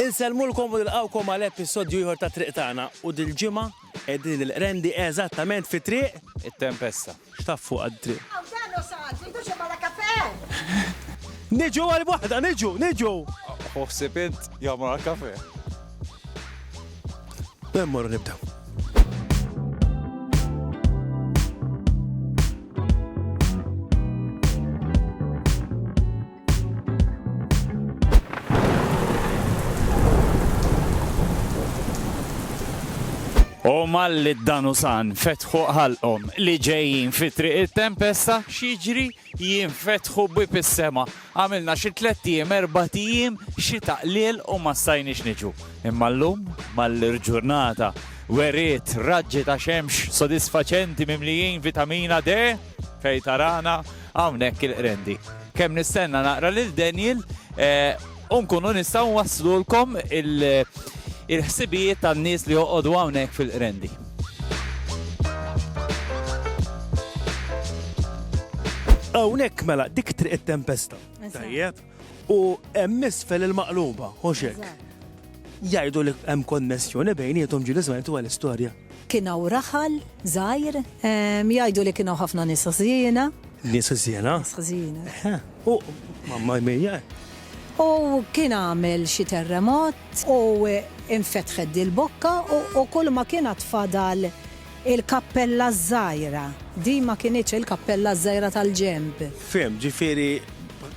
Insellmulkom u nilqgħukom għal episodju ieħor ta' Triq Tagħna u dil-ġimgħa qegħdin il-Qrendi eżattament fi triq, It-Tempesta. x'taf fuqha d-triq? Hawn dan hu saqat, tridu xi bala kafè? Niġu għal waħda, niġu, niġu! Hu ħsieb int jew mmur għal kafè? Mela mmorru nibdew. U malli d-danusan fetħu ħalqom li ġejjin fi triq il-tempesta, xieġri jien fetħu bib is-sema. Għamilna xi tlet tiem, erba' tiem, xi taqlil u ma stajniex niġu. Imma llum mal-ġurnata weriet raġġi ta' xemx sodisfaċenti mimlijin vitamina D. Fejn tarana, hawnhekk il-Qrendi. Kemm nistenna naqra lil Daniel u nkunu nistgħu nwaslulkom il-ħsibijiet tan-nies li joqogħdu hawnhekk fil-Qrendi. Hawnhekk mela dik Triq it-Tempesta. Tajjeb. U hemm isfel il-Maqluba, hux hekk? Jgħidu li hemm konnessjoni bejniethom ġieli żmajtu għall-istorja. Kien hawn raħal żgħir. Jgħidu li kien hawn ħafna nies ħżiena. Nies ħżiena? Nies ħżiena. Eħe. U, mamma mia! U kien għamel xi terremot. U infetħet dil-bokka u kulma kien għad fadal il-kappella ż-żgħira. Din ma kinitx il-kappella ż-żgħira tal-ġenb. Fhimt, ġifieri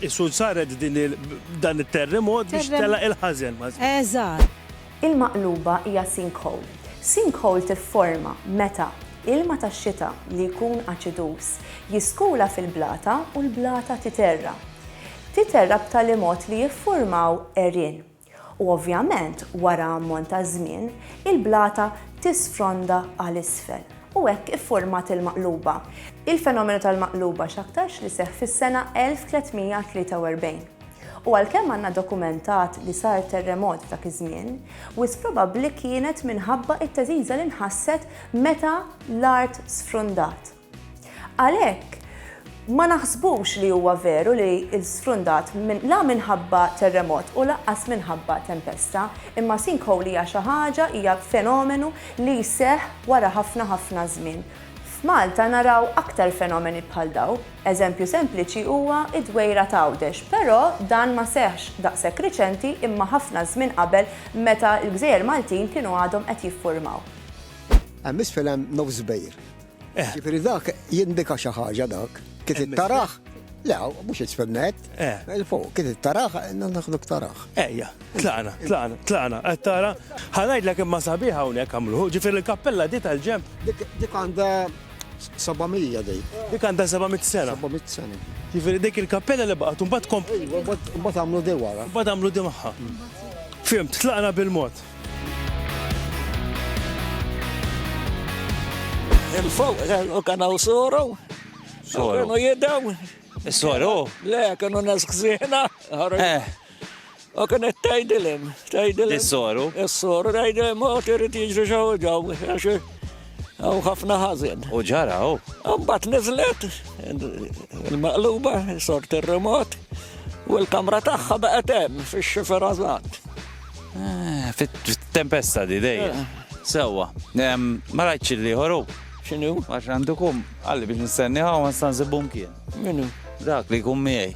qisu saret din il-, dan it-terremot biex telaq il-ħażen. Eżatt. Il-maqluba hija sinkhole. Sinkhole tifforma meta ilma tax-xita li jkun aċiduż jiskula fil-blata u l-blata titerra. Titerra b'tali mod li jiffurmaw għerien. U ovvjament wara ammont ta' żmien il-blata tisfronda għal isfel u hekk iffurmat il-maqluba. Il-fenomenu tal-maqluba x'aktarx li seħħ fis-sena 1343. U għalkemm għandna dokumentat li sar terremot f'dak iż-żmien, wisq probabbli kienet minħabba t-teżiża li nħasset meta l-art sfrundat. Għalhekk, ma naħsbux li huwa veru li sfrundat la minħabba terremot u lanqas minħabba tempesta, imma sinkhole hija xi ħaġa, hija fenomenu li jseħħ wara ħafna ħafna żmien. F'Malta naraw aktar fenomeni bħal dawn. Eżempju sempliċi huwa d-dwejra t'Għawdex, però dan ma seħħx daqshekk riċenti imma ħafna żmien qabel meta l-gżejjer Maltin kienu għadhom qed jiffurmaw. Hemm isfel hemm nofs bejr. Jiġifieri dak jindika xi ħaġa dak. Kif int tarah, le mhux isfel nett, 'il fuq, kif int tarah, naħsbu taraħ. Ejja. Tlaqna, tlaqna, tlaqna, qed tara? Ħa ngħidlek imma sabiħ hawnhekk għamluh, ġifieri l-kappella di tal-ġenb. Dik għandha 700 dik. Dik għandha 700 sena. 700 sena. Ġifieri dik il-kappella li baqgħet imbagħad komp. Imbagħad għamlu di wara. Imbagħad għamlu di magħha. Fimt, tlaqna bil-mod. Il-fuq, u kanaw suru. Suru. Kanu jidaw. Suru. Le, kanu nas ksina. Eh. U kienet tgħidilhom, tgħidilhom. Is-soru. Is-soru tgħidilhom mod irid jiġri xaw ġaw għax hawn ħafna ħażin. U ġara u. Mbagħad niżlet il-maqluba sort ir-remot u l-kamra tagħha baqgħet hemm fix-xifer għażat. Eh, fit-tempesta di dej. Eh. Sewwa, ma rajtx li ħoru. X'inhu? Għax għandu kum, għalli biex nistenni hawn ma stanżibhom kien. Minu? Dak li kum miegħi.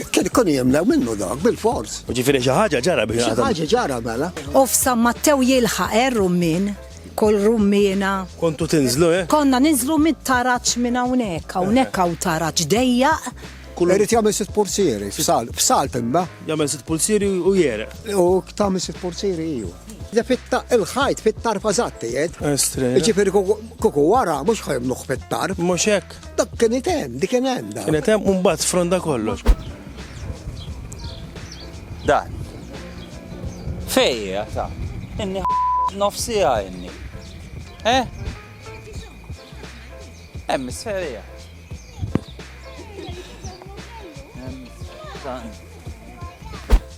Kien ikun jemlew minnu dak, bil-fors. Ġifiri xi ħaġa ġara biex. Xi ħaġa ġara mela. U f'San Mattew jilħaq er rummin kol rummina. Kontu tinżlu, eh? Konna ninżlu mit taraċ minn hawnhekk, hawnhekk hawn taraċ dejjaq. Kull irid jagħmel sitt pulsieri, f'sal, f'sal timba. Jagħmel sitt pulsieri u jere. U tagħmel sitt pulsieri iju. Da fitta il-ħajt fit-tarfa żatti jed. Estri. Ġifieri kuku wara mhux ħajmluħ fit-tarf. Mhux hekk. Dak kien item, dik kien hemm. Kien item u mbagħad fronda kollox. Dan. Fejja, sa. Inni nofsi għajni. Eh? Hemm is-serija. Hemm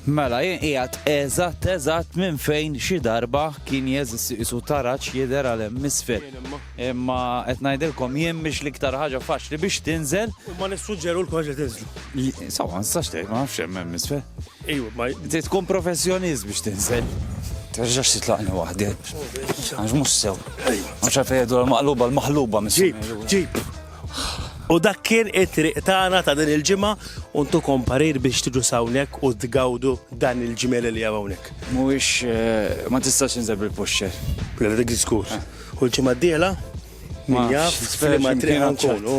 Mela, jien qiegħed eżatt eżatt minn fejn xi darba kien jeżisti isu taraġ jidher għal hemm isfel. Imma qed ngħidilkom jien biex l-iktar ħaġa faċli biex tinżel. U ma nissuġġeru l-koġ li tinżlu. Sawa, nistax tgħid ma nafx hemm hemm isfel. Ejju, ma tkun professjonist biex tinżel. Terġax titlaqni waħdi. Għax mhux sew. Għax fejdu l-maqluba l-maħluba mis. Ġib, ġib. U dak kien it-triq tagħna ta' din il-ġimgħa u ntukom parir biex tiġu s'hawnhekk u tgawdu dan il-ġmiel li hemm hawnhekk. Mhuwiex ma tistax tinżel bil-puxxer. Le dik żgur. U l-ġimgħa d-dieħla min jaf f'liema triq ħa nkunu.